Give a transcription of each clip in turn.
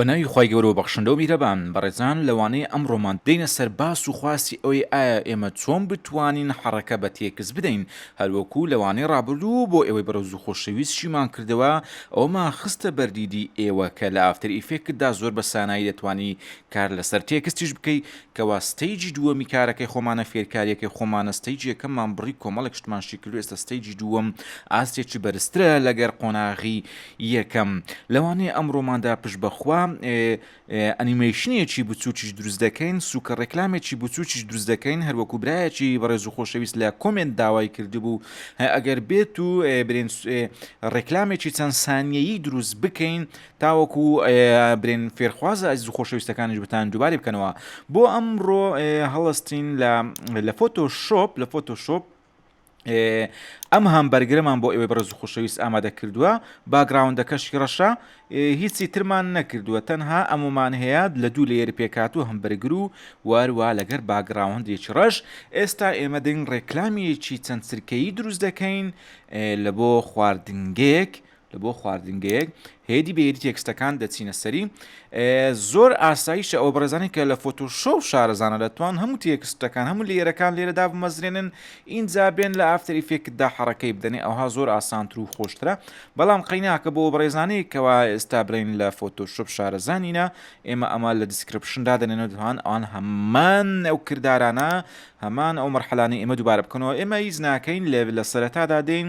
بە ناوی خوای گەورە و بەخشندە و میرەبان بەڕێزان لەوانەیە ئەمڕۆمان بدەینە سەر باس و خواستی ئەوەی ئایا ئێمە چۆن بتوانین حەڕەکە بە تێکست بدەین هەروەکو لەوانەی ڕابردوو بۆ ئێوەی بەڕێز و خۆشەویستشیمان کردەوە ئەوەمان خستە بەردیدی ئێوە کە لە ئافتەر ئیفێکتدا زۆر بە سانایی دەتوانی کار لەسەر تێکستیش بکەی کەوا ستەیجی دووەمی کارەکەی خۆمانە فێرکاریەکەی خۆمانە ستەیجی یەکەممان بڕی کۆمەڵێک شتمان شیکردو ئێستا ستەیجی دووەم ئاستێکی بەرزترە لەگەر قۆناغی یەکەم لەوانەیە ئەمڕۆماندا پشت بەخوا ئەنیمەیشنێکی بچوکیش دروست دەکەین سوکە ڕێکلامێکی بچوکیش دروست دەکەین هەروەکو برایەکی بەڕێز و خۆشەویست لە کۆمێنت داوای کردبوو ئەگەر بێت و برێن ڕێکلامێکی چەند سانیەیی دروست بکەین تاوەکو برێن فێرخوازە ئەزیز و خۆشەویستەکانیش بتان دووبارەی بکەنەوە بۆ ئەمڕۆ هەڵستین لە لە فۆتۆ شۆپ لە فۆتۆ شۆپ ئەم هەم بەرگرەمان بۆ ئێوەی بەڕز خۆشەویست ئامادە کردووە باگراوندەکەشی ڕەشە هیچی ترمان نەکردووە تەنها ئەمومان هەیە لە دوو لێر پێکات و هەم بەرگر و واروا لەگەر باگراوندێکی ڕەش ئێستا ئێمە دەین ڕێکلامیەکی چەند سرکەی دروست دەکەین لە بۆ خواردنگەیەک لە بۆ خواردنگەیەک هێدی بە هێدی تێکستەکان دەچینە سەری زۆر ئاساییشە ئەو بەڕێزانانی کە لە فۆتۆشۆ و شارەزانە دەتوان هەموو تێکستەکان هەموو لێرەکان لێرەدا بمەزرێنن ئینجا بێن لە ئافتەری فێکتدا حەڕەکەی بدەنێ ئەوها زۆر ئاسانتر و خۆشترە بەڵام قەیناکە بۆ بەڕێزانانی کەوا ئێستا برین لە فۆتۆشۆپ شارەزانینە ئێمە ئەمە لە دیسکرپشندا دەنێنەوە دوان ئەوان هەمان ئەو کردارانە هەمان ئەو مەرحلانەی ئێمە دووبارە بکەنەوە ئێمە هیچ ناکەین لێ لە سەرەتادا دێین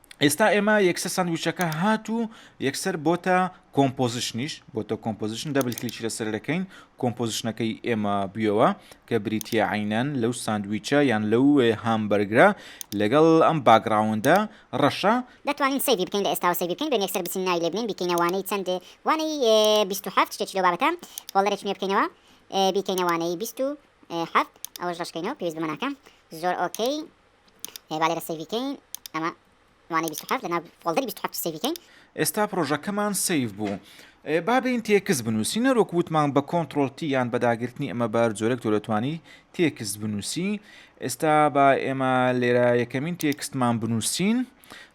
ئێستا ئێمە یەکسەر سندویچەکە هات و یەکسەر بۆتە کۆمپۆزیشنیش بۆتە کۆمپۆزیشن دەبل کلیچی لەسەر دەکەین کۆمپۆزیشنەکەی ئێمە بیەوە کە بریتە عینەن لەو سندویچە یان لەو هامبەرگرە لەگەڵ ئەم باگراوندا ڕەشە دەتوانین سەیری بکەین لە ئێستاوە سەیری بکەین دوێن یەکسەر بچین ناوی لێ بنین بیکەینە وانەی چەند وانەی 27 شتێکی لەو بابەتە فۆڵدەرە چنوێ بکەینەوە بیکەینە وانەی 27 ئەوەش ڕشکەینەوە پێویست بمە ناکەم زۆر ئۆکەی هەیە با لێرە سەیڤی کەین ئەمە وانەی 27 لە ناو فۆڵدەری 27 سەیڤی کەین ئێستا پرۆژەکەمان سەیڤ بوو با بێین تێکست بنووسی نەرۆک وتمان بە کۆنتترۆل تی یان بە داگرتنی ئەمە بار جۆرێک تۆ دەتوانی تێکست بنووسی ئێستا با ئێمە لێرە یەکەمین تێکستمان بنووسین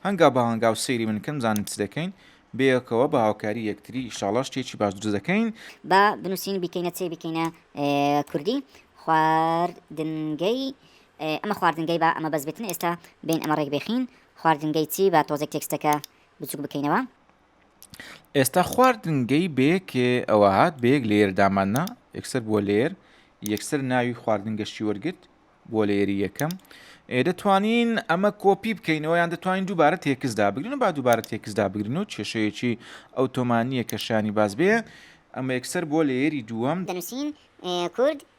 هەنگا بە هەنگا و سەیری من کەم زانین چ دەکەین بێکەوە بە هاوکاری یەکتری شاڵا شتێکی باش دروست دەکەین با بنووسین بیکەینە چێ بکەینە کوردی خواردنگەی ئێ ئەمە خواردنگەی با ئەمە بەس بێتن ئێستا بێین ئەمە ڕێک بێخین خواردنگەی چی با تۆزێک تێکستەکە بچوک بکەینەوە. ئێستا خواردنگەی بێک ئەوە هات بێک لێر داماننا یەکسەر بووە لێر یەکسەر ناوی خواردن گەشتی وەرگرت بۆ لێری یەکەم دەتوانین ئەمە کۆپی بکەینەوە یان دەتوانین دووبارە تێکسدا بگرن با دووبارە تێکسدا بگرن و کێشەیەکی ئەو تۆمانیە کە شانی باز بێ ئەمە یەکسەر بۆ لێری دووەم دەنووسین کورد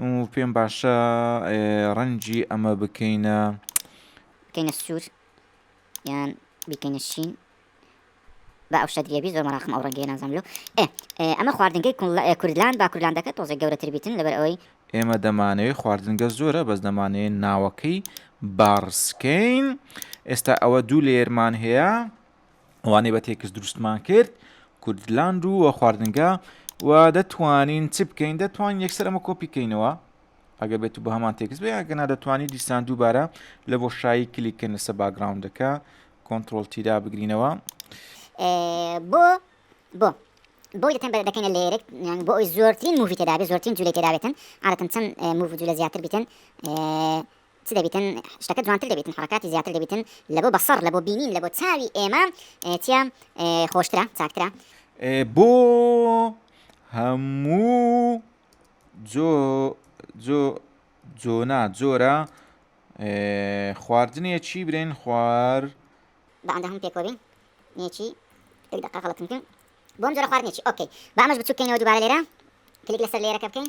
ئوو پێم باشە ڕەنگی ئەمە بکەینە. بکەینە سوور یان بیکەینە شین. با ئەو شەدریە بی زۆر مەراقم ئەو ڕەنگەیە نازانم لۆ ئێ ئەمە خواردنگەی کوردلاند با کوردلاندەکە تۆزێک گەورەتر بیتن لەبەر ئەوەی. ئێمە دەمانەوێ خواردنگە زۆرە بەس دەمانەوێ ناوەکەی باڕسکەین ئێستا ئەوە دوو لەیەرمان هەیە. ئەوانەی بە تێکست دروستمان کرد کوردلاند و وە خواردنگە و دەتوانین چ بکەین دەتوان یەکسەر ئەمە کۆپیکەینەوە ئەگە بێت و بە هەمان تێکست بێ ئەگەنا دەتوانانی دیسان دووبارە لە بۆ شایی کلیککەن لەسە باگراونندەکە کۆنتترۆل تیدا بگرینەوە بۆ بۆ بۆی دەتەن دەکەینە لێرێک یان بۆ ئەوی زۆرترین مووی تێدابێت زۆرترین جولی تێدابێتن عادەتەن چەند موو جوولە زیاتر بیتن چ دەبیتن شتەکە جوانتر دەبیتن حەڕەکاتی زیاتر دەبیتن لە بۆ بەسەڕ لە بۆ بینین لە بۆ چاوی ئێمە چیە خۆشترە چاکترە. بۆ هەموو جۆ جۆ جۆنا جۆرە خواردنێ چی برێن خوار. بە ئەندە هەموو پێکەوە بین نێچی یەک دەقە غەڵەتم کرد بۆم جۆرە خواردنێکی ئۆکەی بامەش بچووکەینەوە دووبارە لێرە کلیک لەسەر لێرەکە بکەین.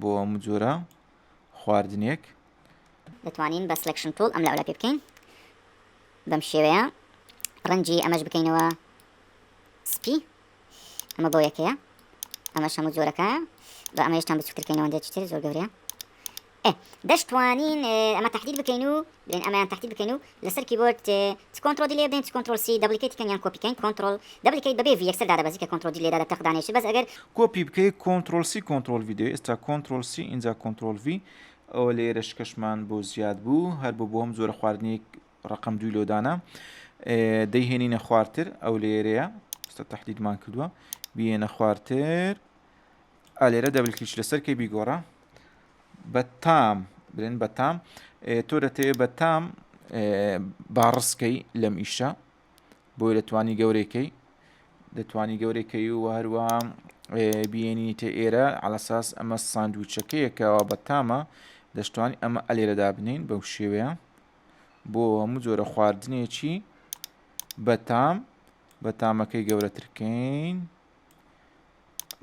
بۆ هەموو جۆرە خواردنێک. دەتوانین بە سلێکشن توڵ ئەم لەولا پێ بکەین بەم شێوەیە ڕەنجی ئەمەش بکەینەوە سپی ئەمە بۆ یەکەیە ئەمەش هەموو جۆرەکایە بە ئەمە هێشتان بچوترکەینەوە دێتر زۆر گەورەیە دەشتوانین ئەمە تهدید بکەین و بێن ئەمیان تهدید بکەین و لەسەر کیبۆرد چ کۆنتڕۆ دی لێ بدەین چ کۆنتڕۆل سی دەبلیکەیتی کەین یان کۆپی کەین کۆنتڕۆل دەبلیکەیت بەبێ ڤی یەکسەر دادەبەزی کە کۆنتڕۆل دی لێ دادە تەق دانێشی بەس ئەگەر کۆپی بکەی کۆنتڕۆل سی کۆنتڕۆل ڤی دەوێت ئێستا کۆنتڕۆل سی ئینجا کۆنتڕۆل ڤی ئەوە لە ئێرە شکەشمان بۆ زیاد بوو هەر بۆ بۆم زۆرە خواردنی ڕقم دوی لۆدانە دەیهێنینە خوارتر ئەو لێرەیە ستا تهدیدمان کردووە بێنە خوارتر ئا لێرە دەبل کلیک لەسەر کەی بیگۆڕە بە تام بلێن بە تام تۆ دەتەوێت بە تام باڕسکەی لەم ئیشە بۆی دەتوانی گەورەکەی دەتوانی گەورەکەی و هەروە بینیتە ئێرە علەساس ئەمە ساندوچەکەیەکەوە بە تامە دەشتوانی ئەمە ئەلێرەدا بنین بەو شێوەیە بۆ هەموو جۆرە خواردنێکی بەتام بە تامەکەی گەورەترکەین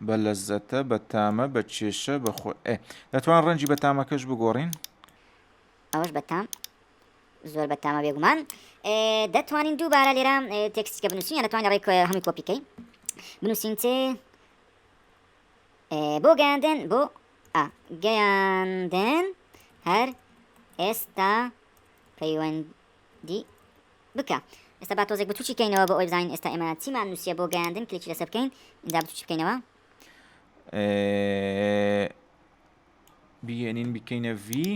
بە لەزەتە بە تامە بە کێشە بە خۆ ئێ دەتوان ڕەنجی بە تامەکەش بگۆڕین ئەوەش بە تام زۆر بە تامە بێگومان دەتوانین دووبارە لێرە تێکسیکە بنووسین دەتوانین ڕێک هەمی کۆپیکەی بنووسین چێ بۆ گەیاندن بۆ گەیاندن هەر ئێستا پەیوەند دی بکە ئێستا با تۆزێک بچوکی کەینەوە بۆ ئەوی بزانین ئێستا ئێمە چیمان نووسە بۆ گەیاندن کلکی لەسەر بکەین ئینجا بچوکی بکەینەوە بگەێنین بکەینە ڤی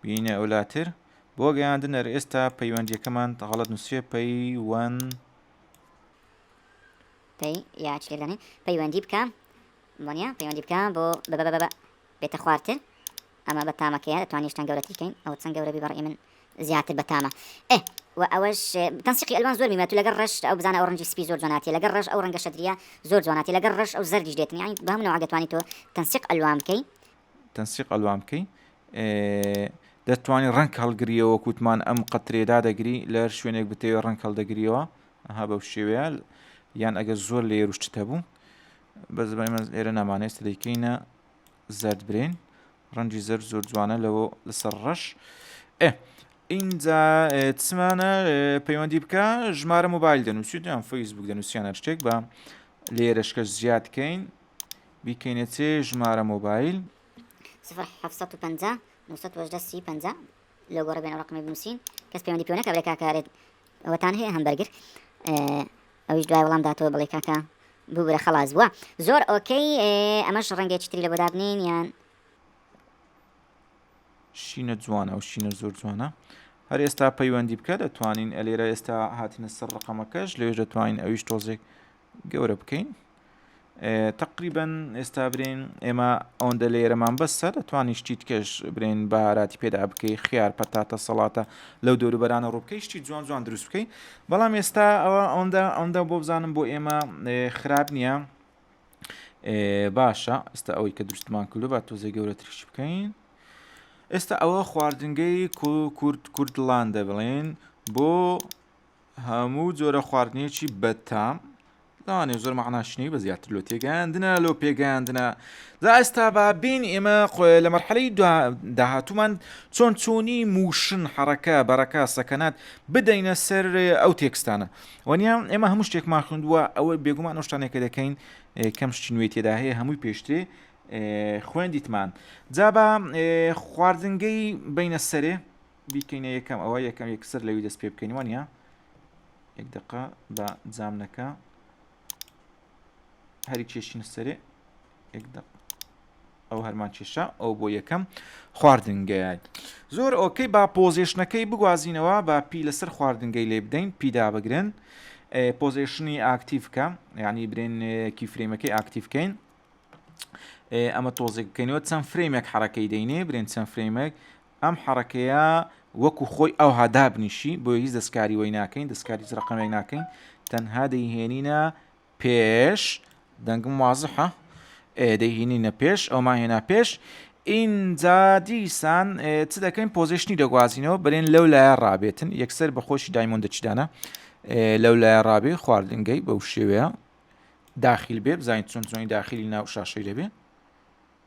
بینە ئەولاتر بۆ گەیاندن ئەر ئێستا پەیوەندیەکەمان تەغڵەت نووسێ پەیوەن پێی یاچێدانین پەیوەندی بکە بۆنیە پەیوەندی بکە بۆ بە بێتە خوارتر ئەمە بە تامەکەیە دەتوانین شتان گەورەتری کەین ئەوە چەند گەورەبی بەڕی من زیاتر بەتامە ئێ و ئەوەش تەنسیقی ئەلوان زۆر میمەت و لەگەر ڕەش ئەو بزانە ئەو ڕەنجی سپی زۆر جواناتی لەگەر ڕەش ئەو ڕەنگە شەدریە زۆر جواناتی لەگەر ڕەش ئەو زەردیش دێتن یانی بەم نەوعە دەتوانی تۆ تەنسیق ئەلوان بکەی تەنسیق ئەلوان بکەی دەتوانی ڕەنگ هەڵگریەوە کووتمان ئەم قەترێ دادەگری لە هەر شوێنێک بتەوێ ڕەنگ هەڵدەگریەوە ئەها بەو شێوەیە یان ئەگەر زۆر لێ روشتتە بوو بەس بەمە ئێرە نامانێست دەیکەینە زەرد برین ڕەنجی زەر زۆر جوانە لەوە لەسەر ڕەش ئێ ئینجا چمانە پەیوەندی بکە ژمارە موبایل دەنووسیت یان فەیسبوک دەنووسیانە شتێک بە لێرەشکە زیاد کەین بیکەینە چێ ژمارە مۆبایل 1950 لە گۆڕە بێنە ڕقمی بنووسین کەس پەیوەندی پێوەکە برێکاکارێت ئەوەتان هەیە هەم بەرگر ئەویش دوای وەڵام داتەوە بڵێ کاکە ببورە خەڵاز بووە زۆر ئۆکەی ئەمەش ڕەنگە چتری لە بۆ دابنین یان شینە جوانە و شینە زۆر جوانە هەر ئێستا پەیوەندی بکە دەتوانین ئەلێرە ئێستا هاتنە سەر ڕقەمەکەش لێژ دەتوانین ئەویش تۆزێک گەورە بکەین تقریبن ئێستا برین ئێمە ئەوەندە لێرەمان بەسە دەتوانانی شتی تکەش برین باراتی پێدا بکەی خیار پەتاتە سەڵاتە لەو دەوروبەرانە ڕووبکەی شتی جوان جوان دروست بکەین بەڵام ئێستا ئەوە ئەوەندە ئەوەندە بۆ بزانم بۆ ئێمە خراپ نییە باشە ئستا ئەوەی کە دروستمان کردو با تۆزێ گەورە تریش بکەین ئێستا ئەوە خواردنگەی کورد کوردلاندە بڵێن بۆ هەموو جۆرە خواردنێکی بەتام لەوانێ زۆر مەعناشنەی بە زیاتر لۆ تێگەیاندنە لۆ پێگەیاندنە دا ئێستا با بین ئێمە خۆێ لە مەرحەلەی داهاتومان چۆن چۆنی موشن حڕەکە بەڕەکە سەکەنات بدەینە سەر ئەو تێکستانە وەنیان ئێمە هەموو شتێکمان خوندووە ئەوە بێگومان ئەو شتانێکە دەکەین کەم شتی نوێ تێدا هەیە هەمووی پێشترێ خوێندیتمان جابا خواردنگەی بینە سەرێ بیکەینە یەکەم ئەوە یەکەم یەک سەر لەوی دەست پێ بکەین وانە یەک دقە بە جامنەکە هەری کێشینە سەرێ یەک دقە ئەو هەرمان کێشا ئەو بۆ یەکەم خواردنگەیان زۆر ئۆکەی با پۆزیشنەکەی بگوازینەوە با پی لەسەر خواردنگەی لێ بدەین پیدا بگرن پۆزیشنی ئاکتیفکە یعنی برێن کیفرێمەکەی ئاکتیفکەین ئەمە تۆزێککەینەوە چەند فرێمێک حرەکەی دەینێ برێن چەند فرێمێک ئەم حەڕەکەیە وەکو خۆی ئەوها دابنیشی بۆیە هیچ دەستکاری وەی ناکەین دەستکاری هیچ ڕقەمێک ناکەین تەنها دەیهێنینە پێش دەنگم وازحە دەیهێنینە پێش ئەومان هێنا پێش ئینجا دیسان چ دەکەین پۆزیشنی دەگوازینەوە برێن لەو لایە ڕابێتن یەکسەر بە خۆشی دایمۆن دەچدانە لەو لایە ڕابێ خواردنگەی بەو شێوەیە داخیل بێ بزانین چۆن چۆنی داخلی ناو شاشەی دەبێ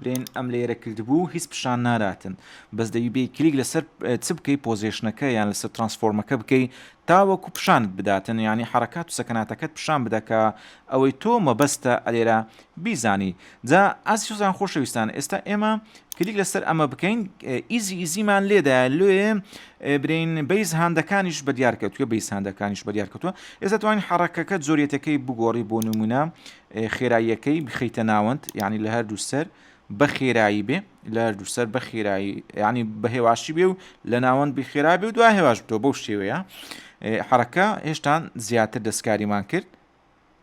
برێن ئەم لەیەرە کلد بوو هیچ پشان ناراتن بەس دەبی بێی کلیک لەسەر چ بکەی پۆزێشنەکە یان لەسەر ترانسفۆرمەکە بکەی تاوەکو پشانت بداتن یانی حرەکات و سەکناتەکەت پشان بدە کە ئەوەی تۆ مەبەستە ئەلێرە بیزانی جا ئازیزان خۆشەویستان ئێستا ئێمە کلیک لەسەر ئەمە بکەین ئیزی ئیزیمان لێدا لێ برین بیس هەندەکانیش بە دیارکەوتوە بیس هەندەکانیش بە دیارکەوتوە ئێستا توانین حرەکەکە جۆریەتەکەی بگۆڕی بۆ نمونە خێراییەکەی بخەیتە ناوەند یانی لە هەردوو سەر بە خێرایی بێ لە هەردوو سەر بە خێرایی ینی بە هێواشی بێ و لە ناوەند بخێرا بێ و دو هێواش بتەوە بەو شێوەیە حرەکە هێشتان زیاتر دەستکاریمان کرد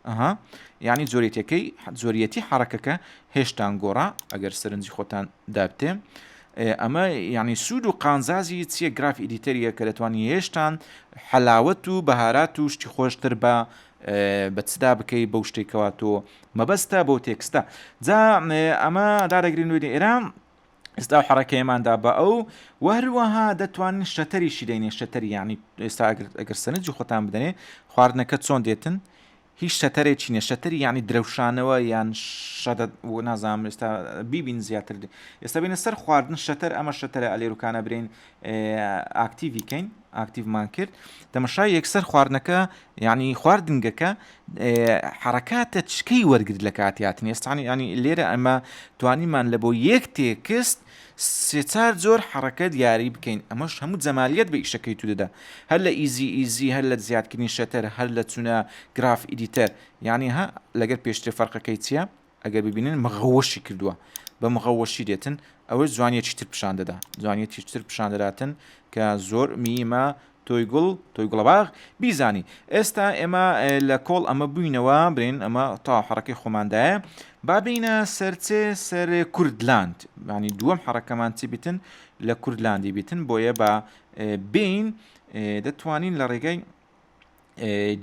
ئەها یعنی جۆریتەکەی جۆریەتی حرەکەکە هێشتان گۆڕا ئەگەر سەرنجی خۆتان دابتێ ئەمە یعنی سوود و قانزازی چیە گراف ئیدیتەریە کە دەتوانانی هێشتان حەلاوت و بەهارات و شتی خۆشتر بە بە چدا بکەی بەو شتەی کەوا تۆ مەبەستە بۆ تێکستە جا ئەمە دارەگرین نوێنی ئێران ئێستا و حڕەکەیماندا بە ئەو وەروەها دەتوانین شەتەری شیدەینێ شەتەری ینی ئێستا ئەگەر سەنجی خۆتان بدەێ خواردنەکە چۆن دێتن هیچ شەتەرێکی نەشەتەری ینی درەوشانەوە یان شەدە نازانام ئێستا بیبین زیاتر ئێستا بینە سەر خواردن شەتەر ئەمە شەتەرە ئەلێروکانە برین ئاکتیڤی کەین ئاکتیڤمان کرد تەمەشای یەکسەر خواردنەکە یعنی خواردنگەکە حرکاتە چکەی وەرگرت لە کاتیاتنی ئێستانی ینی لێرە ئەمە توانیمان لە بۆ یەک تێکست سێچار زۆر حرەکە دیاری بکەین ئەمەش هەموو جەمالیت بە ئیشەکەی تو دەدا هەر لە ئیزی ئیزی هەر لە زیادکردنی شەتەر هەر لە چونە گراف ئیدیتەر یعنی ها لەگەر پێشتر فەرقەکەی چییە؟ ئەگەر ببینن مغەوەشی کردووە بە مغەوەشی دێتن ئەوەی جوانیەکی تر پیشان دەدا جوانیەتی تر پیشان دەداتن کە زۆر میمە تۆی گوڵ تۆی گوڵەباغ بیزانی ئێستا ئێمە لە کۆڵ ئەمە بووینەوە برین ئەمە تا حڕەکەی خۆماندایە بابینە سەرچێ سەر کوردلاند ینی دووەم حڕەکەمان چی بتن لە کوردلاندی بتن بۆیە بە بین دەتوانین لە ڕێگەی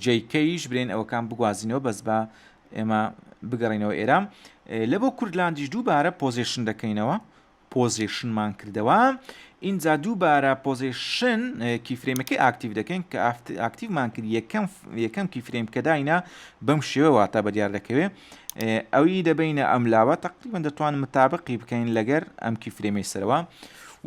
جەی کەیش برێن ئەوەکان بگوازینەوە بەس بە ئێمە بگەڕینەوە ئێرام لە بۆ کوردلاندیش دووبارە پۆزیشن دەکەینەوە پۆزیشنمان کردەوە ئینجا دووبارە پۆزیشن کیفرێمەکەی ئاکتیو دەکەین کە ئاکتیومان کرد یەکەم یەکەم کیفرێم کە داینا بەم شێوە واتە بە دیار دەکەوێت ئەوی دەبینە ئەم لاوە تقریبان دەتوان متابقی بکەین لەگەر ئەم کیفرێمی سەرەوە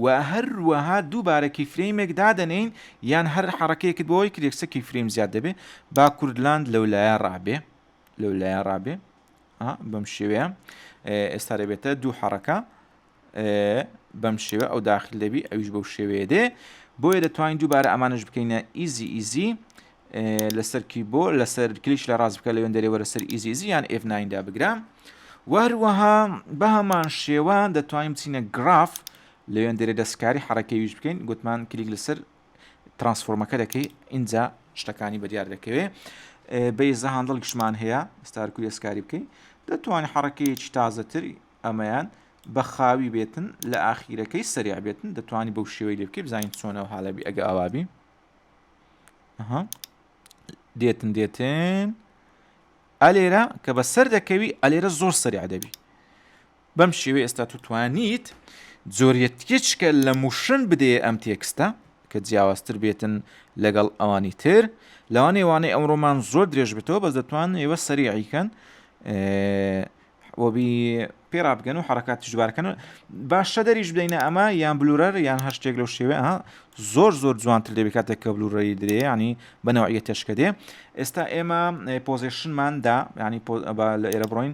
و هەروەها دووبارە کیفرێمێک دادەنین یان هەر حەڕەکەیەکت بۆ ئەوەی کرێکسە کی فریم زیاد دەبێ با کوردلاند لەو لایە ڕابێ لەو لایە ڕابێ بەم شێوەیە ئێستا دەبێتە دوو حەڕەکە بەم شێوە ئەو داخل دەبی ئەویش بەو شێوەیە دێ بۆیە دەتوانین دووبارە ئەمانش بکەینە ئیزی ئیزی لەسەر کی بۆ لەسەر کلیش لە ڕاست بکە لەوێن دەرێوە لەسەر ئیزیزی یان F9دا بگرام وەروەها بەهمان شێوە دەتوانین بچینە گراف لەوێندەرێ دەستکاری حەڕەکەی ویش بکەین گوتمان کلیک لەسەر ترانسفۆرمەکە دەکەی ئینجا شتەکانی بەدیار دەکەوێ بەیزە هاندڵ گشمان هەیە ستارکو دەستکاری بکەی دەتوانین حەڕەکەیەکی تازەتر ئەمەیان بە خاوی بێتن لە ئاخیرەکەی سەریع بێتن دەتوانانی بەو شێوەی لێ بکەی بزانین چۆنەوە حالەبی ئەگە ئاوابی دێتن دێتن ئەلێرە کە بە سەر دەکەوی ئەلێرە زۆر سەریع دەبی بەم شێوەی ئێستا تو توانیت جۆریەتکێچکە لە موشن بدەیە ئەم تێکستە کە جیاوازتر بێتن لەگەڵ ئەوانی تر لەوانێ وانەی ئەمڕۆمان زۆر درێژ بێتەوە بەس دەتوان ئێوە سەریعیکەن وەبی پێرابگەن و حرکات تژبارکەن باشە دەریش بدەینە ئەمە یان بلورەر یان هەر شتێک لەو شێوێ ها زۆر زۆر جوانتر لێ بکاتێک کە بلورەری درێ ینی بەنەوەیە تێشکە دێ ئێستا ئێمە پۆزیشنماندا ینی لە ئێرە بڕۆین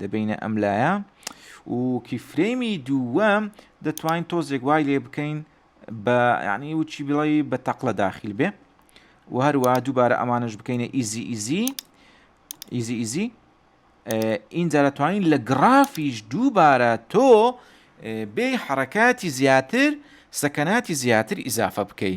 دەبەینە ئەم لایە و کیفرەیمی دووەم دەتوانین تۆزێک وای لێ بکەین بە یعنی وچی بڵی بە تەقلە داخیل بێ و هەروە دووبارە ئەمانش بکەینە ئیزی ئیزی ئیزی ئیزی ئینجا دەتوانین لە گرافیش دووبارە تۆ بێ حرکاتی زیاتر سەکەناتی زیاتر ئیزافە بکەی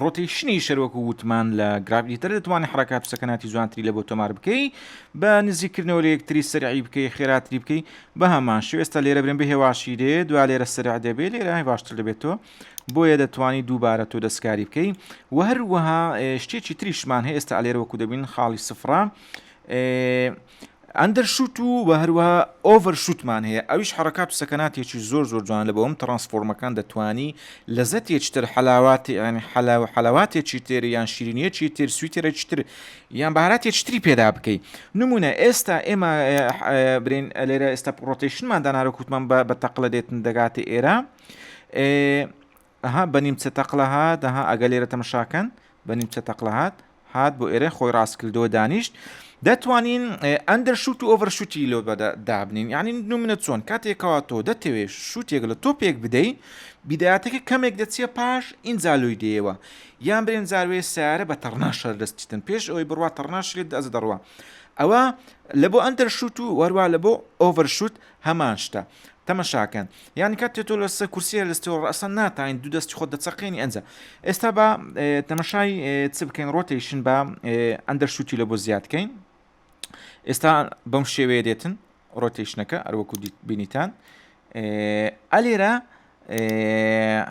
ڕۆتیشنی شەرۆک و وتمان لە گرابیتر دەتوانانی حرکات سەکناتی جوانتری لە بۆ تۆمار بکەی بە نزیکردنەوە لە یەکتری سەرعی بکەی خێراتری بکەی بە هەمان شوێستا لێرە برم بە هێواشی دێ دوا لێرە سەرع دەبێت لێرە باشتر دەبێتەوە بۆیە دەتوانی دووبارە تۆ دەستکاری بکەی و هەروەها شتێکی تریشمان هەیە ئێستا لێرە وەکو دەبین خاڵی سفرە ئەندەر شوت و وە هەروەها ئۆڤەر شوتمان هەیە ئەویش حرکات و سەکەناتێکی زۆر زۆر جوان لە بەوەم ترانسفۆرمەکان دەتوانی لەزەتێکی تر حەلاواتی یعنی حەلا و حەلەواتێکی تر یان شیرینیەکی تر سویتێکی تر یان باراتێکی تری پێدا بکەیت نمونە ئێستا ئێمە برین لێرە ئێستا پرۆتیشنمان دانارە کووتمان بە بە تەقلە دێتن دەگاتە ئێرە ئەها بە نیمچە تەقلە هات ئەها ئەگە لێرە تەمەشا کەن بە نیمچە تەقلە هات هات بۆ ئێرە خۆی ڕاست کردەوە دانیشت دەتوانین ئەندەر شوت و ئۆڤەر شوتی لۆ بەدە دابنین یعنی نو منە چۆن کاتێکەوە تۆ دەتەوێت شوتێک لە تۆپێک بدەی بیداتەکە کەمێک دەچێ پاش ئینجا لۆی دێەوە یان برێن جاروێ سیارە بە تەڕنا شەر دەستیتن پێش ئەوی بڕوا تەڕناشێت دەز دەڕوە ئەوە لە بۆ ئەندەر شوت و وەروا لە بۆ ئۆڤەر شوت هەمان شتە تەمەشاکەن یانی کات تێ تۆ لەسەر کورسی هەلستەوە ڕاستە ناتین دوو دەستی خۆ دەچەقێنی ئەنج ئێستا بە تەمەشای چ بکەین ڕۆتیشن بە ئەندەر شووتی لە بۆ زیادکەین ئێستا بەم شێوەیە دێتن ڕۆتیشنەکە ئەروەکو بینیتان ئەلێرە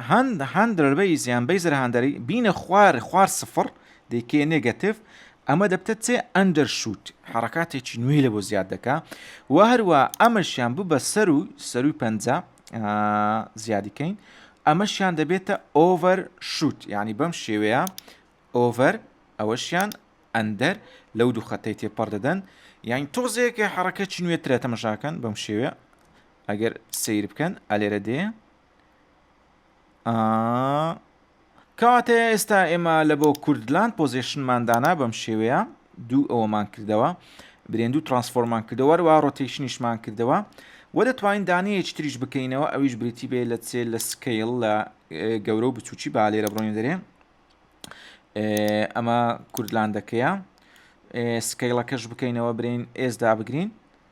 هەند هەندرەر بەیس یان بەیزر هەندەری بینە خوار خوار سفر دەیکێ نێگەتیف ئەمە دەبتە چێ ئەندەر شووت حرکاتێکی نوێی لە بۆ زیاد دەکا و هەروە ئەمەشیان ببە سەر و سەروی پەنجا زیادیکەین ئەمەشیان دەبێتە ئۆڤەر شووت یعنی بەم شێوەیە ئۆڤەر ئەوەشیان ئەندەر لەو دوو خەتەی تێپەڕ دەدەن یان تۆزێکە حڕەکەی نوێترە تەمەشاکەن بەم شێوێ ئەگەر سیر بکەن ئەلێرە دێ کەواتە ئێستا ئێمە لە بۆ کوردلان پۆزیشنمان دانا بەم شێوەیە دوو ئەوەمان کردەوە برێن دوو ترانسفۆرمان کردەوە وا ڕۆتیشنیشمان کردەوە وە دەتوانین دانەیەکی تریش بکەینەوە ئەویش بریتی بێ لە چێ لە سکیل لە گەورە و بچوکی با لێرە بڕۆین دەرێ ئەمە کوردلاندەکەیە سکیلەکەش بکەینەوە برین ئێزدا بگرین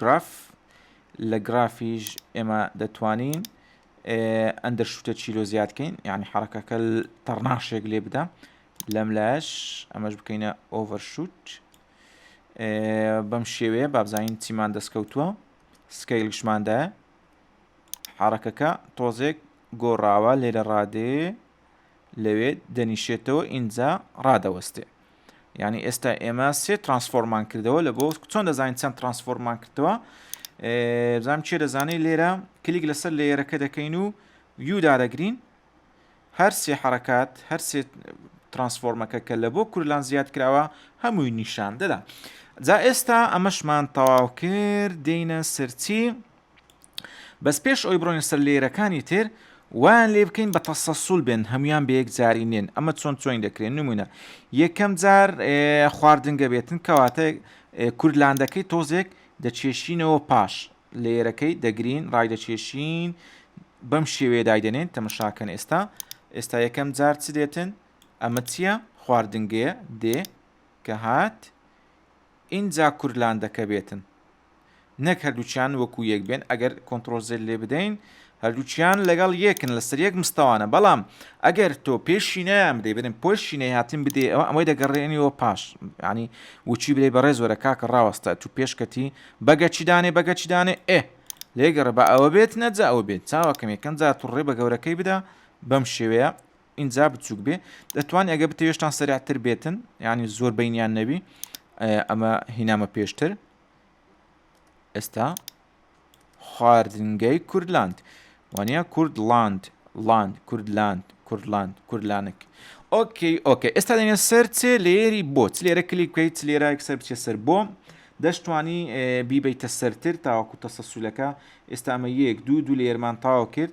گراف لە گرافیش ئێمە دەتوانین ئەندەر شوتە چیرۆ زیاد بکەین یعنی حرەکەکە تەڕناشێک لێ بدا لەم لاش ئەمەش بکەینە ئۆڤەرشوت بەم شێوەیە بابزانین چیمان دەستکەوتووە سکەیلشماندایە حرەکەکە تۆزێک گۆڕاوە لێرە ڕادێ لەوێ دەنیشێتەوە ئینجا ڕادەوەستێ یعنی ئێستا ئێمە سێ ترانسفۆرمان کردەوە لە بۆ چۆن دەزانین چەند ترانسفۆرمان کردەوە بزانام چێ دەزانانی لێرە کلیک لەسەر لێرەکە دەکەین و یودا دەگرین هەر سێ حرکات هەر سێ ترانسفۆرمەکە کە لە بۆ کورلان زیاد کراوە هەمووی نیشان دەدا جا ئێستا ئەمەشمان تەواو کرد دێنە سەرچی بەس پێش ئەوەی بڕۆین سەر لەیرەکانی تر وایان لێ بکەین بە تەسەسول بێن هەمویان بە یەکجاری نێن ئەمە چۆن چۆین دەکرێن نمونە یەکەم جار خواردنگە بێتن کەواتە کورلاندەکەی تۆزێک دەچێشینەوە پاش لێرەکەی دەگرین ڕای دەچێشین بەم شێوێ دایدەنێن تەمەشاکەن ئێستا ئێستا یەکەم جار چ دێتن ئەمە چییە خواردنگەیە دێ کە هات ئینجا کورلاندەکە بێتن نەک هەردووکیان وەکو یەک بێن ئەگەر کۆنترۆل زێد لێ بدەین هەردووکیان لەگەڵ یەکن لەسەر یەک مستەوانە بەڵام ئەگەر تۆ پێشی نەیان بدەی بنم پۆشی نەهاتن بدێ ئەوە ئەمەی دەگەڕێنیەوە پاش ینی وچی بێ بەڕێز وەرە کاکە ڕاوەستە تو پێشکەتی بەگەچی دانێ بەگەچی دانێ ئێ لێگەڕە بە ئەوە بێت نەجا ئەوە بێت چاوەکەم یەکەم جا تو ڕێ بە گەورەکەی بدا بەم شێوەیە ئینجا بچوک بێ دەتوان ئەگە بتەوێشتان سەرعتر بێتن یعنی زۆر بینیان نەبی ئەمە هینامە پێشتر ئێستا خواردنگەی کوردلاند وانە کوردلاند لاند کوردلاند کوردلاند کوردلانک ئۆکەی ئۆکە ئێستا دەێن سەر چێ لێری بۆ چ لێرە کلی بکەیت چ لێرە سەر بچێ سەر بۆ دەشتوانی بیبیتە سەرتر تاوەکو تەسەسولەکە ئێستا ئەمە یەک دوو دوو لێرمان تاوا کرد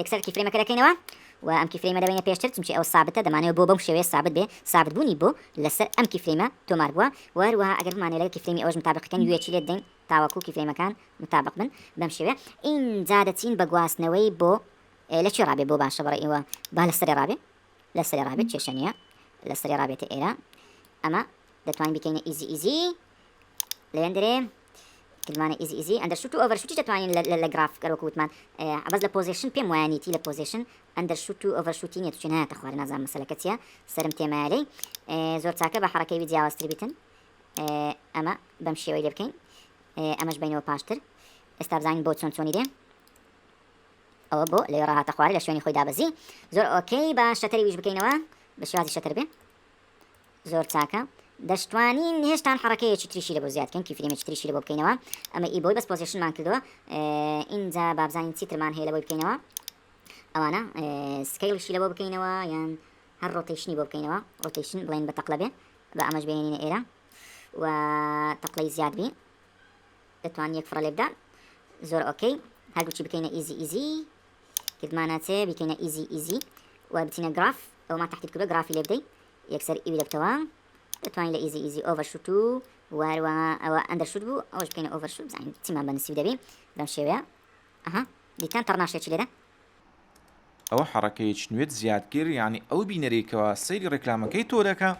یەکسەر کیفرەیمەکە دەکەینەوە و ئەم کیفرەیمە دەبەینە پێشتر چونکی ئەو سابتە دەمانەوە بۆ بەم شێوەیە سابت بێ سابت بوونی بۆ لەسەر ئەم کیفرەیمە تۆمار بووە و هەروەها ئەگەر بمانەوێت لەگەڵ کیفرەیمی ئەوەش متابقەکەن یوێکی لێ دەدەین تاوەکو کیفرەیمەکان متابق بن بەم شێوەیە ئینجا دەچین بە گواستنەوەی بۆ لە کوێ ڕابێ بۆ باشە بەڕێ ئێوە با لەسەرێ ڕابێ لەسەرێ ڕابێت کێشە نییە لەسەرێ ڕابێتە ئێرە ئەمە دەتوانین بکەینە ئیزی ئیزی لەوێندرێ کردمانە ئیزی ئیزی ئەندەرشوت و ئۆڤەرشوتیش دەتوانین لە لە گراف گەر وەکو وتمان عەبەس لە پۆزێشن پێم وایە نیتی لە پۆزێشن ئەندەرشوت و ئۆڤەرشوتی نیە چون نایەتە خوارە نازانم مەسەلەکە چیە سەرم تێمایە لێی زۆر چاکە بە حەڕەکەی وی جیاوازتر بیتن ئەمە بەم شێوەی لێ بکەین ئەمەش بینەوە پاشتر ئێستا بزانین بۆ چۆن چۆنی لێ ئەوە بۆ لێ ڕاهاتە خوارە لە شوێنی خۆی دابەزی زۆر ئۆکەی بە شەتەری ویش بکەینەوە بە شێوازی شەتەر بێ زۆر چاکە دەشتوانین هێشتان حڕەکەیەکی تریشی لەبۆ زیاد کەن کیفرێمێکی تریشی لەبۆ بکەینەوە ئەمە ئی بۆی بەس پۆزیشنمان کردووە ئینجا بابزانین چیترمان هەیە لەبۆی بکەینەوە ئەوانە سکیڵشی لەبۆ بکەینەوە یان هەر ڕۆتیشنی بۆ بکەینەوە ڕۆتیشن بڵێن بە تەقلە بێ بە ئەمەش بێنینە ئێرە و تەقلەی زیاد بین دەتوان یەک فڕە لێبدا زۆر ئۆکەی هەردووچی بکەینە ئیزی ئیزی کردمانە چێ بکەینە ئیزی ئیزی و بچینە گراف ئەومان تەحدید کردوە گرافی لێ بدەی یەکسەر ئی بدەبتەوە دەتوانی لە ئیزی ئیزی ئۆڤەر شوت و واروا ئەوە ئەندەر شوت بوو ئەوش بکەینە ئۆڤەر شوت بزانین چیمان بە نسیب دەبی بەم شێوەیە ئەها دیتان تەڕناشێ چی لێرە ئەوە حەڕەکەی چنوێت زیادکرد یعنی ئەو بینەرەی کەوا سەیری ڕێکلامەکەی تۆ دەکا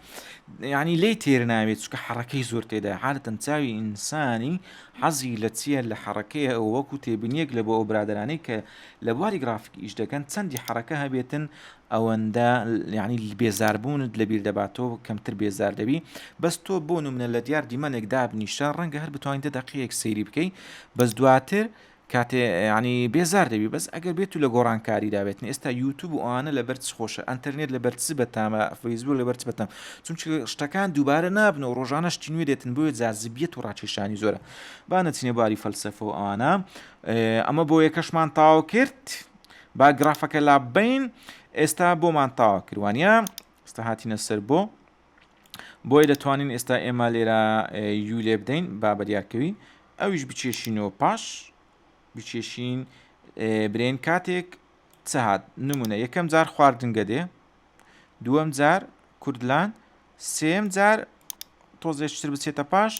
یعنی لی تێر ناوێت چکە حەڕەکەی زۆر تێدا حالتەن چاوی ئینسانی حەزی لە چیە لە حەڕەکەی ئەو وەکو تێبنیەک لە بۆ ئەو برادرانەی کە لە بواری گرافیک ئیش دەکەن چەندی حەرەکە هەبێتن ئەوەندە یانی بێزاربوونت لەبیر دەبات تۆ کەمتر بێزار دەبی بەس تۆ بۆ نمونە لە دیار دیمەنێک دابنیشە ڕەنگە هەر بتوانین دە دەقەیەک سەیری بکەی بەس دواتر کاتێ ینی بێزار دەبی بەس ئەگەر بێت و لە گۆڕانکاری دابێتن ئێستا یوتوب و ئەوانە لە بەرچ خۆشە ئەتەرنێت لە بەرچ بەتامە فەیسبوو لە بەرچ بەتام چونچ شتەکان دووبارە نابن و ڕۆژانە شتی نوێ دێتن بۆیە جازبیەت و ڕاکێشانی زۆرە با نەچینە باری فەلسفە و ئەوانە ئەمە بۆ یەکەشمان تاو کرد با گرافەکە لابین ئێستا بۆمان تاوا کروانە ئستا هاتینە سەر بۆ بۆیە دەتوانین ئێستا ئێمە لێرە یو لێ بدەین با بەدیارکەوی ئەویش بچێشینەوە پاش بچێشین برێن کاتێک چهات نمونە یەکەم جار خواردنگە دێ دووەم جار کوردلان سێم جار تۆزێشتر بچێتە پاش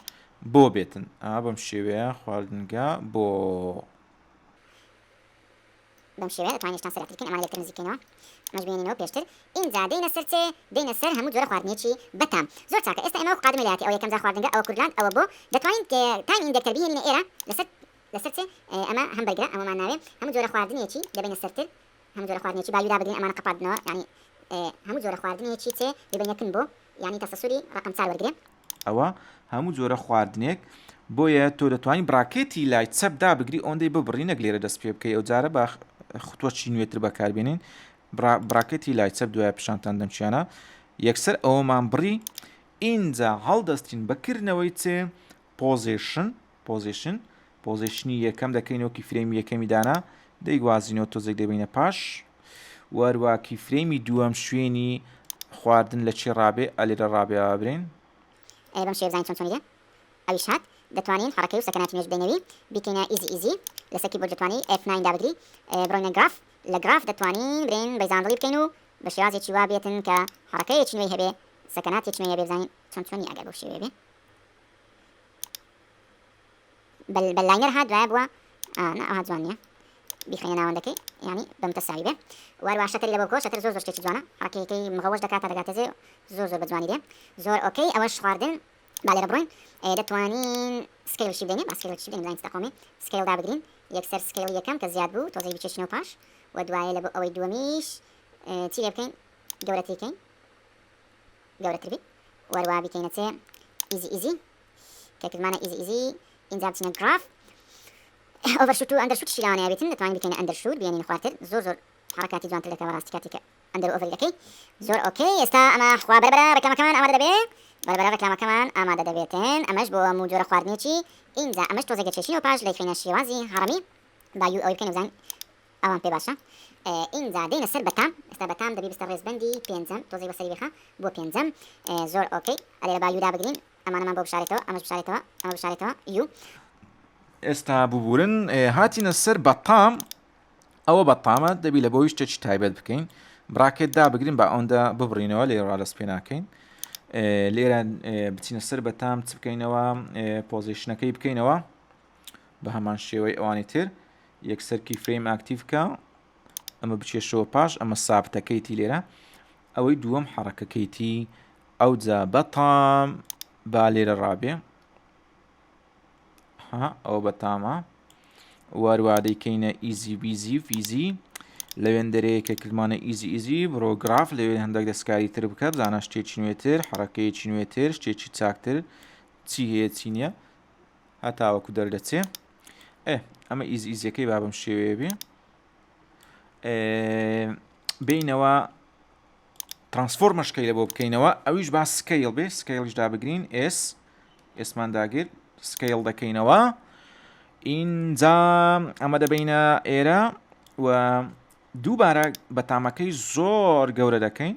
بۆ بێتن ئا بەم شێوەیە خواردنگە بۆ بەم شێوەیە دەتوانین یەکتان سەرەختی بکەین ئەمانە لە یەکتر نزیککەینەوە ئەمەش بمێنینەوە پێشتر ئینجا دێینە سەر چێ دێینە سەر هەموو جۆرە خواردنێکی بە تام زۆر چاکە ئێستا ئێمە وەک قادمە لە یاتی ئەوە یەکەم جار خواردنگە ئەوە کوردلاند ئەوە بۆ دەتوانین تایم ئیندێکتەر بهێنینە ئێرە لەسەر لەسەر چێ ئەمە هەم بەرگرە ئەمەمان ناوێ هەموو جۆرە خواردنێکی دەبینە سەرتر هەموو جۆرە خواردنێکی باوی دابگرین ئەمانە قەپاتنەوە یعنی هەموو جۆرە خواردنێکی چێ دەبینە کن بۆ یعنی تەسەسوری ڕەقەم 4 وەرگرێ ئەوە هەموو جۆرە خواردنێک بۆیە تۆ دەتوانین براکێتی لای چەپ دابگری ئەوەندەی ببڕی نەک لێرە دەست پێ بکەی ئەو جارە بە خوتوەچی نوێتر بەکاربێنین براکەتی لای چەپ دوای پیشانتان دەمچیانە یەکسەر ئەوەمان بڕی ئینجا هەڵدەستین بەکردنەوەی چێ پۆزیشن پۆزێشن، پۆزێشنی یەکەم دەکەینەوە کیفرەیمی یەکەمی دانا دەیگوازینەوە تۆزێک دەبینە پاش وەروە کیفرەیمی دووەم شوێنی خواردن لە چێ ڕابێ ئەلێ لە ڕابێەوە برین ئەی بەم شێ بزانین چۆن چۆنی دێ ئەویش هات دەتوانین حەڕەکەی و سەکەناتی نوێژ بدەینەوی بیکەینە ئیزی ئیزی لەسەر کیبۆرد دەتوانی ئێف ناین دابگری بڕۆینە گراف لە گراف دەتوانین برین بەیزاندڵی بکەین و بە شێوازێکی وا بێتن کە حەڕەکەیەکی نوێی هەبێ سەکەناتێکی نوێی هەبێ بزانین چۆن چۆنی ئەگەر بەو شێوەیە بێ بەل بەل لاینەر ها دوایە بووە نا ئەوها جوان نییە بیخەینە ناوەندەکەی ینی بەمتە ساوی بێ واروا شەکەری لە بۆکۆ شەکر زۆر زۆر شتێکی جوانە حەکەکەی مغەوەش دەکات تا دەگاتەجێ زۆر زۆر بەجوانی دێ زۆر ئۆکەی ئەوەش خواردن با لێرە بڕۆین دەتوانین سکیلشی بدەین با سکیلشی بدەین زانین تەقۆمی سکیل دابگرین یەکسەر سکیل یەکەم کە زیاد بوو تۆزەی بچێشینەوە پاش و دوایە لە بۆ ئەوەی دووەمیش چی لێ بکەین گەورەتیکەین گەورەتر بی وەروا بیکەینە چێ ئیزی ئیزی کە کردمانە ئیزی ئیزی ئینجا بچینە گراف ئۆڤەرشوت و ئەندەرشوتیشی لەوانە یابێتن دەتوانین بکەینە ئەندەرشوت بێنین خوارتر زۆر زۆر حرکاتی جوانتر دەکا بەڕاستی کاتێک کە ئەندەر ئۆڤەری دەکەی زۆر ئۆکەی ئێستا ئەمە خوا بەرەبەرە ڕێکلامەکەمان ئامادە دەبێ بەرەبەرە ڕێکلامەکەمان ئامادە دەبێتن ئەمەش بۆ هەموو جۆرە خواردنێکی ئینجا ئەمەش تۆزێک دەچێشینەوە پاش لەیخینە شێوازی هەڕەمی با یو ئەوەی بکەینە بزان ئەوان پێ باشە ئینجا دێینە سەر بەتام ئێستا بەتام دەبی بستە ڕێزبەندی پێنجەم تۆزی بەسەری بخە بۆ پێنجەم زۆر ئۆکەی ئەلێ لە با یودا بگرین ئەمانەمان بۆ بشارێتەوە ئەمەش بشارێتەوە ئەمە بشارێتەوە یو ئێستا ببورن هاتینە سەر بەتام ئەوە بەتامە دەبی لە بۆی شتێکی تایبەت بکەین براکێت دابگرین بە ئەوەندە ببڕینەوە لێ ڕالەس پێ ناکەین لێرە بچینە سەر بەتام چ بکەینەوە پۆزیشنەکەی بکەینەوە بە هەمان شێوەی ئەوانی تر یەکسەر کی فرەیم ئاکتیڤکە ئەمە بچێشەوە پاش ئەمە سابتەکەیتی لێرە ئەوەی دووەم حەڕەکەکەیتی ئەو جا بەتام با لێرە ڕابێ ئەوە بەتامە واروادەی کەینە ئیزی بیزی فیزی لە وێندەرەیە کە کردمانە ئیزی ئیزی بڕۆگراف لەوێ هەندێک دەستکاری تر بکە بزانە شتێکی نوێتر حڕەکەیەکی نوێتر شتێکی چاکتر چی هەیە چی نییە هەتاوەکو دەردەچێ ئێ ئەمە ئیز ئیزیەکەی بابم شێوەیە بێ بینەوە ترانسفۆرمە شکەیلە بۆ بکەینەوە ئەویش با سکەیل بێ سکەیلش دابگرین ئێس ئێسمان داگرت سکەیل دەکەینەوە ئینجا ئەمە دەبینە ئێرە و دووبارە بەتامەکەی زۆر گەورە دەکەین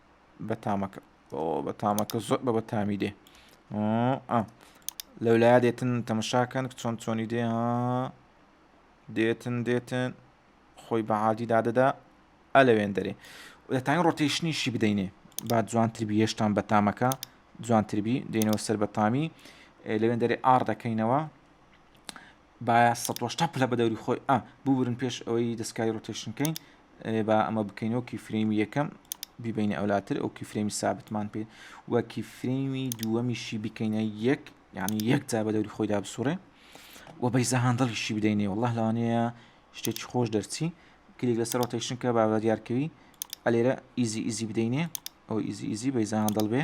بەتامەکە بەتامەکە زۆر بە بەتامی دێ لەو لای دێتن تەمەشاکەن چۆن چۆنی دێ ها دێتن دێتن خۆی بە عادی دادەدا ئەلەوێن دەرێ دەتانی ڕۆتیشنیشی بدەینێ با جوانتربی هێشتان بەتامەکە جوانتربی دێنەوە سەر بەتامی لەوێن دەرێ ئار دەکەینەوە با سەد و هەشتا پلە بە دەوری خۆی ئا ببورن پێش ئەوەی دەستکاری ڕۆتێشن کەین با ئەمە بکەین و کیفرەیمی یەکەم بیبینە ئەولاتر ئەو کیفرەیمی سابتمان پێ و کیفرەیمی دووەمیشی بکەینە یەک یعنی یەک جا بە دەوری خۆیدا بسوڕێ و بەیزە هاندڵیشی بدەینێ والله لەوانەیە شتێکی خۆش دەرچی کلیک لەسەر ڕۆتێشن کە با بە دیارکەوی ئەلێرە ئیزی ئیزی بدەینێ ئەو ئیزی ئیزی بەیزە هاندڵ بێ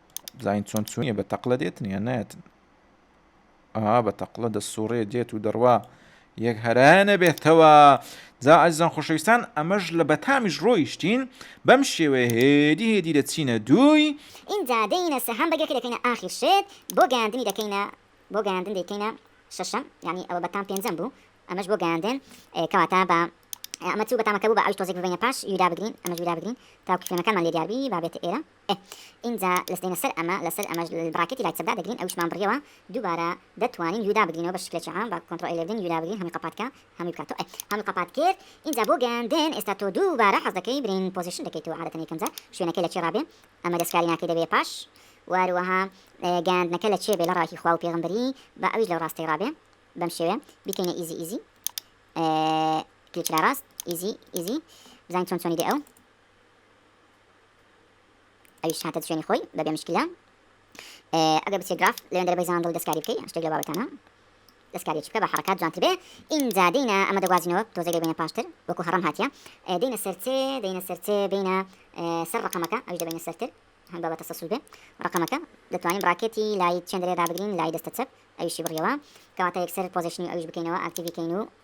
زین چۆن چونیە بە تەقلە دێتن یان نایەتن ئەها بە تەقلە دە سوڕێ دێت و دەڕوا یەک هەرانە بێتەوە جا ئەزان خۆشەویستان ئەمەش لە بەتامیش ڕۆیشتین بەم شێوەیە هێدی هێدی لە چینە دووی ئینجا دێینە سەهام بەگەکە دەکەینە ئاخیر شێت بۆ گەیاندنی دەکەینە بۆ گەیاندن دەکەینە شەشەم ینی ئەوە بەتام پێنجەم بوو ئەمەش بۆ گەیاندن کەواتە بە ئەمە چوو بەتامەکە بوو بە ئەوش تۆزێک ببینە پاش یودا بگرین ئەمەش یودا بگرین تاکو کوێنەکەمان لێ دیاربی بابێتە ئێرە ئینجا لەستێینە سەر ئەمە لەسەر ئەمەش براکێتی لایت چەپدا دەگرین ئەویشمان بڕیەوە دووبارە دەتوانین یودا بگرینەوە بە شکلێکی عام بە کۆنتڕۆ ئێلێڤن یودا بگرین هەمووی قەپات کا هەمووی بکات تۆ هەمووی قەپات کرد ئینجا بۆ گەیاندن ئێستا تۆ دووبارە حەز دەکەی برین پۆزیشن دەکەیتەوە عادەتەن یەکەم جار شوێنەکەی لە چی ڕابێ ئەمە دەسکاری ناکەی دەبێ پاش واروەها گەیاندنەکە لە چێ بێ لە ڕاکی خوا و پێغمبەری با ئەویش لەو ڕاستەی ڕابێ بەم شێوێ بیکەینە ئیزی ئیزی کلیک لە ڕاست ئیزی ئیزی بزانین چۆن چۆنی دێ ئەو ئەویش هاتە شوێنی خۆی بەبێ مشکلە ئەگەر بچێ گراف لەوێندەر بەی زاندڵ دەستکاری بکەی شتێک لە بابەتانە دەستکاری چکە بە حرکات جوانتر بێ ئینجا دینە ئەمە دەگوازینەوە تۆزەگە بینە پاشتر وەکو هەڕم هاتیە دینە سەرچێ دینە سەرچێ بینە سەر ڕقەمەکە ئەوش دەبینە سەرتر هەم بابەتە سەسول بێ ڕقەمەکە دەتوانین ڕاکێتی لای چێندرێ دابگرین لای دەستە چەپ ئەویشی بڕیەوە کەواتە یەکسەر پۆزیشنی ئەوش بکەینەوە ئاکتیڤی کەین و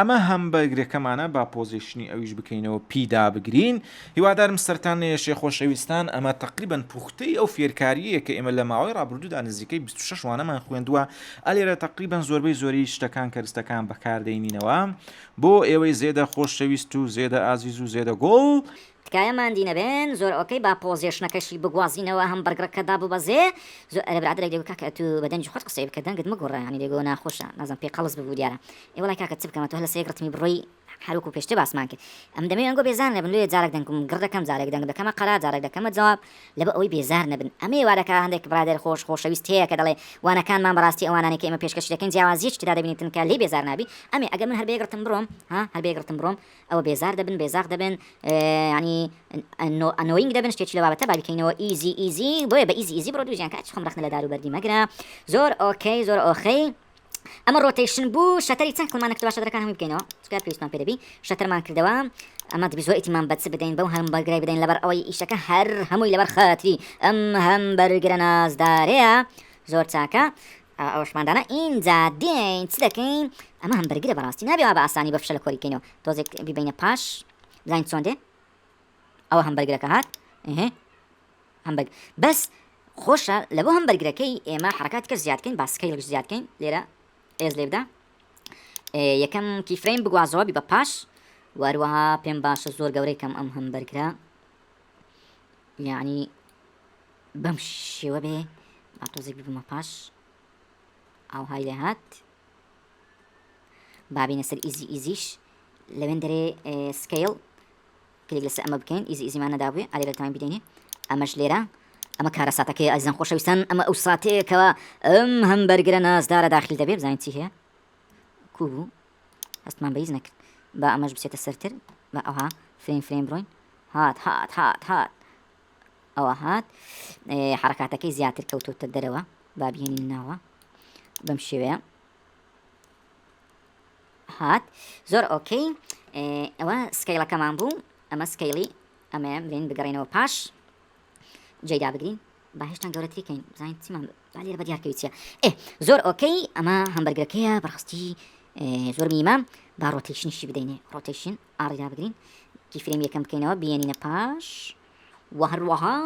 ئەمە هەمبەرگرەکەمانە با پۆزیشنی ئەویش بکەینەوە پی دابگرین هیوادارم سەرتان نەیەشێ خۆشەویستان ئەمە تەقریبەن پوختەی ئەو فێرکاریەیە کە ئێمە لە ماوەی ڕابردوودا نزیکەی بیست و شەش وانەمان خوێندووە ئەلێرە تەقریبەن زۆربەی زۆری شتەکان کەرستەکان بەکاردەینینەوە بۆ ئێوەی زێدە خۆشەویست و زێدە ئازیز و زێدە گوڵ تکایە ماندی نەبن زۆر ئۆکەی با پۆزێشنەکەشی بگوازینەوە هەم بەرگڕەکە داببەزێ زۆ ئەرێ برادەرێک دەگو کاکە ئەتو بە دەنگی خۆت قسەی بکە دەنگت مەگۆڕە یانی دەگۆ ناخۆشە نازم پێ قەڵس ببو دیارە ئێ وەڵای کاکە چ بکەمە تۆ هەر لەسەر یەک ڕتمی بڕۆی هەر وەکو پێشتر باسمان کرد ئەم دەمەوێ ئەنگۆ بێزار نەبن لۆیە جارەک دەنگم گڕ دەکەم جارێک دەنگ دەکەمە قەرا جارێک دەکەمە جواب لەبۆ ئەوەی بێزار نەبن ئەمەیە وا دەکا هەندێک برادەر خۆش خۆشەویست هەیە کە دەڵێ وانەکانمان بەڕاستی ئەوانانەی کە ئێمە پێشکەشی دەکەین جیاوازیەکی تێدا دەبینین تنکە لێی بێزار نابی ئەمێ ئەگەر من هەر بە یەک ڕتم بڕۆم ها هەر بە یەک ڕتم بڕۆم ئەوە بێزار دەبن بێزاخ دەبن یانی ئەنۆینگ دەبن شتێکی لە بابەتە بابیکەینەوە ئیزی ئیزی بۆیە بە ئیزی ئیزی بڕۆ دوو ژیان کە ئەچ خۆم ڕەخنە لە دار و بەردی مەگرە زۆر ئۆکەی زۆر ئۆخەی ئەمە ڕۆتەیشن بوو شەتەری چەند کڵمانە کردەوە شەتەرەکان هەمووی بکەینەوە چکە پێویستمان پێ دەبی شەتەرمان کردەوە ئەمە دەبی زۆر ئیتیمان بەچ بدەین بەو هەم بەرگرای بدەین لەبەر ئەوەی ئیشەکە هەر هەمووی لەبەر خەتری ئەم هەم بەرگرە نازدارەیە زۆر چاکە ئەوەش مادامە ئینجا دێین چ دەکەین ئەمە هەم بەرگرە بەڕاستی نابێ وا بە ئاسانی بە فشەلە کۆری بکەینەوە تۆزێک بیبەینە پاش بزانین چۆن دێ ئەوە هەم بەرگرەکە هات ئه هەم بەگ بەس خۆشە لە بۆ هەم بەرگرەکەی ئێمە حرکات کە زیادکەین باسکەیلش زیادکەین لێرە ئێز لێ بدا یەکەم کیفرەین بگوازەوەبی بە پاش واروەها پێم باشە زۆر گەورەی کەم ئەم هەم بەرگرە یعنی بەم شێوە بێ با تۆزێک ببمە پاش ئاوهای لێ هات بابینە سەر ئیزی ئیزیش لەوێن دەرێ سکیل کلێک لەسەر ئەمە بکەین ئیزی ئیزیمان نەدابێ ئەێ لە تایم بدەینێ ئەمەش لێرە ئەمە کارە ساتەکەی ئەزان خۆشەویستان ئەمە ئەو ساتەیەکەوە ئەم هەم بەرگرە نازدارە داخل دەبێ بزانین چی هەیە کو بوو هەستمان بەیز نەکرد با ئەمەش بچێتە سەرتر بە ئەوها فرین فرین بڕۆین هات هات هات هات ئەوە هات حرکاتەکەی زیاتر کەوتوتە دەرەوە بابیێنین ناوە بەم شێوەیە هات زۆر ئۆکەی ئەوە سکەیلەکەمان بوو ئەمە سکەیلی ئەمەیە بلێن بگەڕێنەوە پاش جێدا بگرین با هێشتان گەورەتریکەین بزانین چیمان لێرە بە دیارکەویچە ئێ زۆر ئۆکەی ئەمە هەمبەرگەکەیە بەڕاستی زۆر میمە با ڕۆتیشنیشی بدەینێ ڕۆتیشن ئاڕی دابگرین کیفرەیمی یەکەم بکەینەوە بیێنینە پاش و هەروەها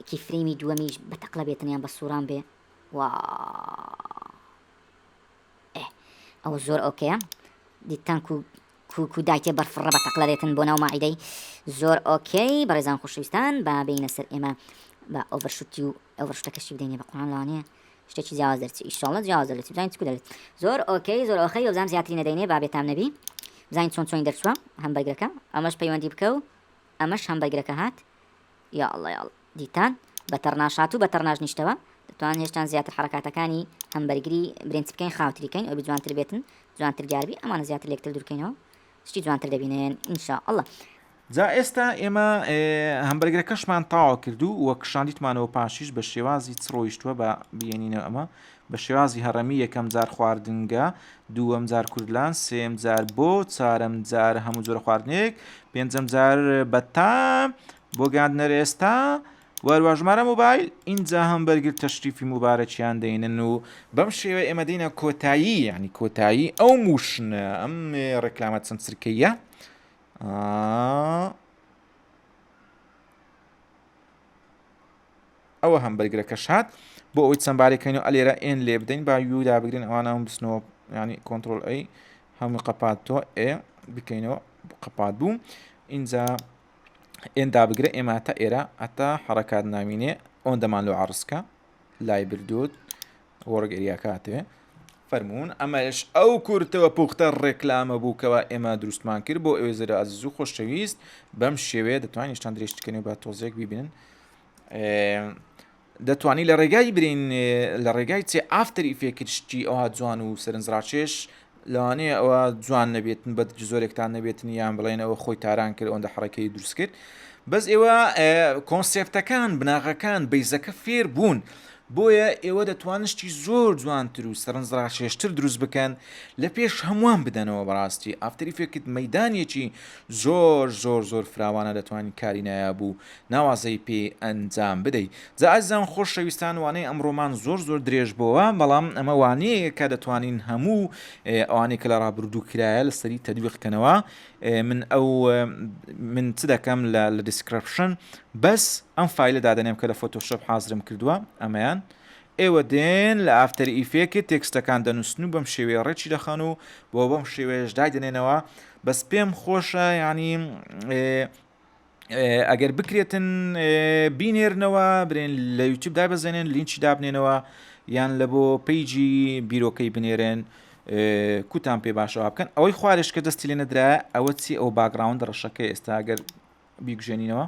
کیفرەیمی دووەمیش بە تەقلە بێتن یان بە سووران بێ و ئەوە زۆر ئۆکەیە دیتان و کوکو دایتێ بەرفڕە بە تەقلە دێتن بۆ ناو ماعیدەی زۆر ئۆکەی بەڕێزان خوشویستان با بینە سەر ئێمە بە ئۆڤەرشوتی و ئەوەشتەکەشی بدەینێ بە قڕان لەوانەیە شتێکی جیاواز دەرچی ئیشەڵڵە جیاواز دەرچی بزانین چکو دەرێت زۆر ئۆکەی زۆر ئۆخەی وەبزانم زیاتری نەدەینێ با بێتام نەبی بزانین چۆن چۆنی دەرچووە هەم بەرگەکە ئەمەش پەیوەندی بکە و ئەمەش هەم بەرگەکە هات یا ئەڵڵە یاڵ دیتان بە تەڕناشات و بە تەڕناش نیشتەوە توان هێشتان زیاتر حرکاتەکانی هەم بەرگری برنج بکەین خاوتریکەین ئەو بجوانتر بێتن جوانتر دیاربی ئەمانە زیاتر لێکتر دوورکەینەوە شتی جوانتر دەبینێن ان شاء اللە. جا ئێستا ئێمە هەمبەرگرەکەشمان تاوا کرد و وە کشاندیتمانەوە پاشیش بە شێوازی چ ڕۆیشتووە بە بینینە ئەمە بە شێوازی هەڕەمی یەکەم جار خواردنگە دووەم جار کوردلان سێم جار بۆ چارەم جار هەموو جۆرە خواردنێک پێنجەم جار بەتام بۆ گاندنەر ئێستا و هەروە ژمارە موبایل ئینجا هەم بەرگر تەشریفی موبارەکیان دەینن و بەم شێوە ئێمە دینە کۆتایی ینی کۆتایی ئەو موشنە ئەم ڕێکلامە چەند سرکەیە ئەوە هەم بەرگرەکە شات بۆ ئەوی چەمبارەکەین و ئەلێرە ئێن لێ بدەین با یودا بگرن ئەوانە هەم بسنەوە ینی کۆنتترۆل ئەی هەموو قەپات تۆ ئێ بکەینەوە قەپات بوو اینجا ئێن دابگرە ئێمە تا ئێرە ئەتا حرەکات ناوینێ ئۆن دەمان لۆ عڕسکە لای بردوود وەڕگەریاکاتێ فەرمونون ئەمەش ئەو کورتەوە پوختە ڕێکلامە بووکەوە ئێمە دروستمان کرد بۆ ئەوێ زرە ئازیز و خۆشەویست بەم شێوەیە دەتوانین شتان درێژتکەنێ بە تۆزێک ببینن دەتوانی لە ڕێگای برین لە ڕێگای چێ ئافتەر ئیفێکت شتی ئەوها جوان و سەرنجڕاکێش لەوانەیە ئەوە جوان نەبێتن بە زۆرێکتان نەبێتن یان بڵێن ئەوە خۆی تاران کرد ئەوەندە حڕەکەی دروست کرد بەس ئێوە کۆنسپتەکان بناغەکان بیزەکە فێر بوون بۆیە ئێوە دەتوانشتی زۆر جوانتر و سەرنجڕاکێشتر دروست بکەن لە پێش هەمووان بدەنەوە بەڕاستی ئافتری فێکت مەدانێکی زۆر زۆر زۆر فراوانە دەتوانین کاری نایابوو ناوازەی پێ ئەنجام بدەی. جا ئازیزان خۆشەویستان وانەی ئەمڕۆمان زۆر زۆر درێژ بۆوە بەڵام ئەمە وانەیەکە کە دەتوانین هەموو ئەوانەی کە لە ڕابردوو کرایە لە سەری تەدویق کەنەوە من ئەو من چ دەکەم لە لە دیسکرپشن بەس ئەم فیلە دادەنێم کە لە فۆتۆشپ حازرم کردووە ئەمەیان ئێوە دێن لە ئافتەر ئیفێکت تێکستەکان دەنووسن و بەم شێوەیە ڕێکی دەخەن و بۆ بەم شێوەیەش دای دەنێنەوە بەس پێم خۆشە ینی ئەگەر بکرێتن بینێرنەوە برێن لە یوتوب دابەزێنن لینچی دابنێنەوە یان لە بۆ پیجی بیرۆکەی بنێرن کوتان پێ باشەوە بکەن ئەوەی خوارش کە دەستی لێ نەدرا ئەوە چی ئەو باگراوند ڕەشەکە ئێستا ئەگەر بیگوژێنینەوە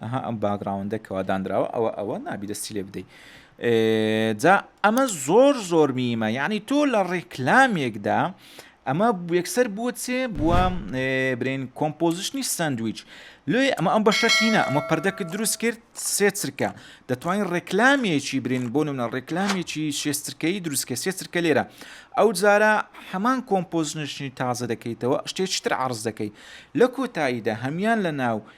ئەها ئەم باگراوندە کەواداندراوە ئەوە ئەوە نابی دەستی لێ بدەیت جا ئەمە زۆر زۆر میمە یعنی تۆ لە ڕێکلامێکدا ئەمە یەکسەر بووە چێ بووە برین کۆمپۆزیشنی سندویچ لێ ئەمە ئەم بەشە تینە ئەمە پردەکە دروست کرد سێ چرکە دەتوانین ڕێکلامیەکی برین بۆ نمە ڕێکلامیەکی شێسترکەی دروستکە سێ چرکە لێرە ئەو جارە هەمان کۆمپۆزنشنی تازە دەکەیتەوە شتێکتر عرض دەکەی لە کۆتاییدا هەمان لە ناو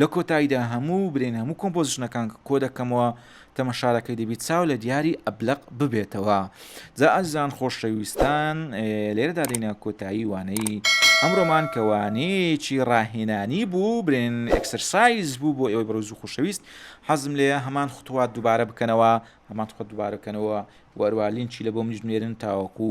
لە کۆتاییدا هەموو برێن هەموو کۆمپۆزیشنەکان کە کۆدەکەمەوە تەمەشارەکەی دەبی چاو لە دیاری ئەبلەق ببێتەوە جا ئازیزان خۆشەویستان لێرەدا دێنە کۆتایی وانەی ئەمڕۆمان کە وانەیەکی ڕاهێنانی بوو برێن ئەکسەرسایز بوو بۆ ئێوەی بەڕۆز و خۆشەویست حەزم لێ هەمان خوتوات دووبارە بکەنەوە هەمان خۆ دووبارەکەنەوە وەروالینچی لە بۆ منیش نێرن تاوەکو